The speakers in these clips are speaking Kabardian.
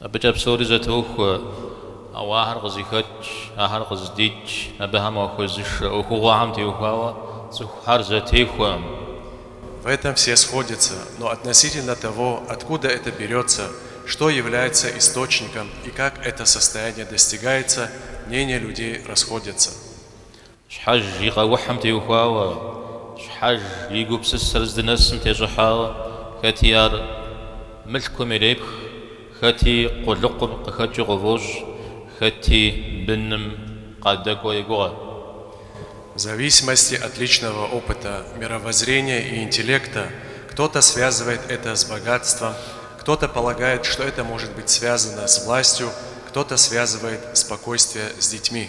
Абыкӏэ псори зэтохуэ, ауэ ахэр къызыхэкӏ, ахэр къыздикӏ, абыхэм хуэзышэ ӏуэхугъуэхэм теухуауэ цӏыхухэр зэтехуэкъым. В этом все сходятся, но относительно того, откуда это берется, что является источником и как это состояние достигается, мнения людей расходятся. Щхьэж и къэухьым теухуауэ, Щхьэж и гупсысэр здынэсым тещӏыхьауэ, хэти ар мылъкум ирепх, хэти къулыкъум къыхэкӏыу къыфӏощӏ, хэти быным къадэкӏуэу егугъэ. В зависимости от личного опыта, мировоззрения и интеллекта кто-то связывает это с богатством, кто-то полагает, что это может быть связано с властью, кто-то связывает спокойствие с детьми.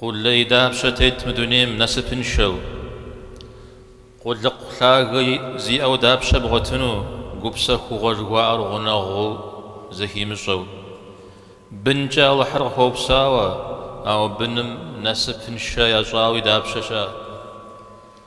Къулей дапщэ тет мы дунейм насыпыншэу? Къулыкъу лъагэ зиӏэу дапщэ бгъуэтыну гупсэхугъуэ жыхуаӏэр гъунэгъуу зэхимыщӏэу? Бынкӏэ Алыхьыр къыхуэупсауэ, ауэ быным насыпыншэ ящӏауи дапщэ щыӏэ?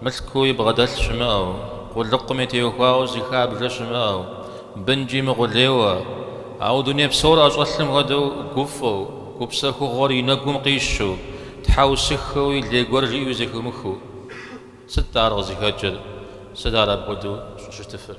Мылъкууи бгъэдэлъ щымыӏэу, къулыкъуми теухуауэ зыхабжэ щымыӏэу, бынкӏи мыкъулейуэ, ауэ дуней псор ӏэщӏэлъым хуэдэу гуфӏэу, гупсэхугъуэр и нэгум къищу, тхьэусыхэуи лей гуэр жиӏэу зэхыумыхыу. Сыт-тӏэ ар къызыхэкӏыр? Сыт ар апхуэдэу щӏыщытыфыр?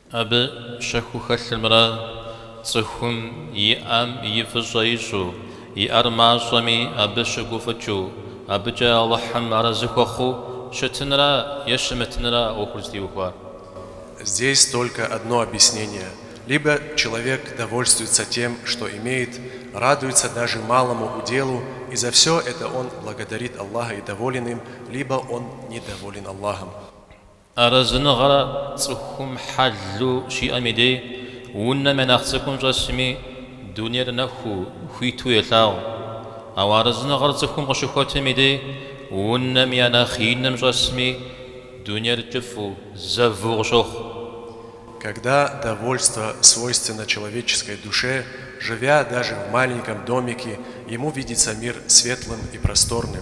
Абы щэхуу хэлъымрэ цӏыхум иӏэм и фӏыщӏэ ищӏу, иӏэр мащӏэми абы щыгуфӏыкӏыу, абыкӏэ Алыхьым арэзы хуэхъуу щытынрэ е щымытынра ӏуэхур зытеухуар. Здесь только одно объяснение, либо человек довольствуется тем, что имеет, радуется даже малому уделу, и за всё это он благодарит Аллаха и доволен им, либо он недоволен Аллахом. Арэзыныгъэр цӏыхум хьэлу щиӏэм и дей, унэм я нэхъ цӏыкӏум щӏэсми, дунейр нэхуу, хуиту елъагъу. Ауэ арэзыныгъэр цӏыхум къыщыхуэтым и дей, унэм я нэхъ иным щӏэсми, дунейр кӏыфӏу, зэву къыщохъу. Когда довольство свойственно человеческой душе, живя даже в маленьком домике, ему видится мир светлым и просторным.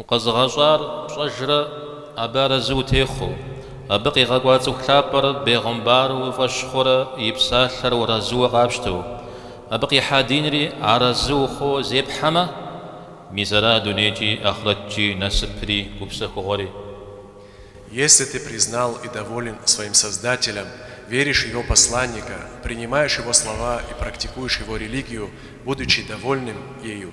Укъэзыгъэщӏар пщӏэжрэ абы арэзы утехъуэу, абы къигъэкӏуа цӏыху лъапӏэр бегъымбару уи фӏэщ хъурэ и псалъэр уарэзыуэ къапщтэу, абы къихьа динри арэзы ухъуу зепхьэмэ, мис ара дунейкӏи ахърэткӏи насыпри гупсэхугъуэри. Если ты признал и доволен своим Создателем, веришь в Его Посланника, принимаешь Его слова и практикуешь Его религию, будучи довольным ею,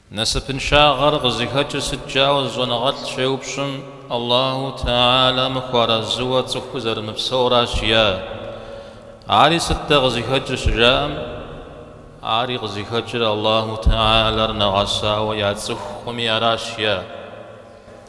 Насыпыншагъэр къызыхэкӏыр сыт жаӏэу зы щӏэныгъэлӏ щеупщӏым, Аллаху Теалэм хуэарэзыуэ цӏыхур зэрымыпсэуращ е Ари сыт-тӏэ къызыхэкӏыр щыжаӏэм, ари къызыхэкӏыр Аллаху Теалэр нэгъэсауэ яцӏыхукъыми аращ е.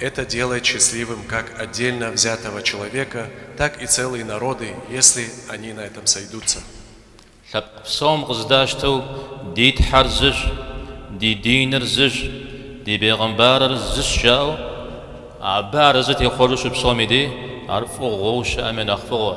Это делает счастливым как отдельно взятого человека, так и целые народы, если они на этом сойдутся. Лъэпкъ псом къызэдащтэу ди Тхьэр зыщ, ди диныр зыщ, ди бегъымбарыр зыщ жаӏэу, абы арэзы техъуэжу щыпсэум и деж, ар фӏыгъуэу щыӏэм и нэхъ фӏыгъуэ.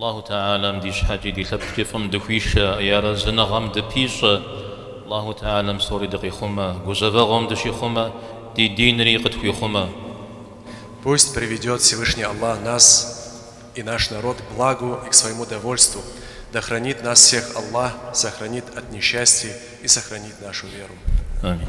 Аллаху Теалэм ди щхьэкӏи ди лъэпкъкӏи фӏым дыхуишэ, и арэзыныгъэм дыпищӏэ, Аллаху Теалэм псори дыкъихъумэ, гузэвэгъуэм дыщихъумэ, ди динри къытхуихъумэ. Пусть приведет Всевышний Аллах нас и наш народ к благу и к своему довольству, да хранит нас всех Аллах, сохранит от несчастий и сохранит нашу веру. Амин.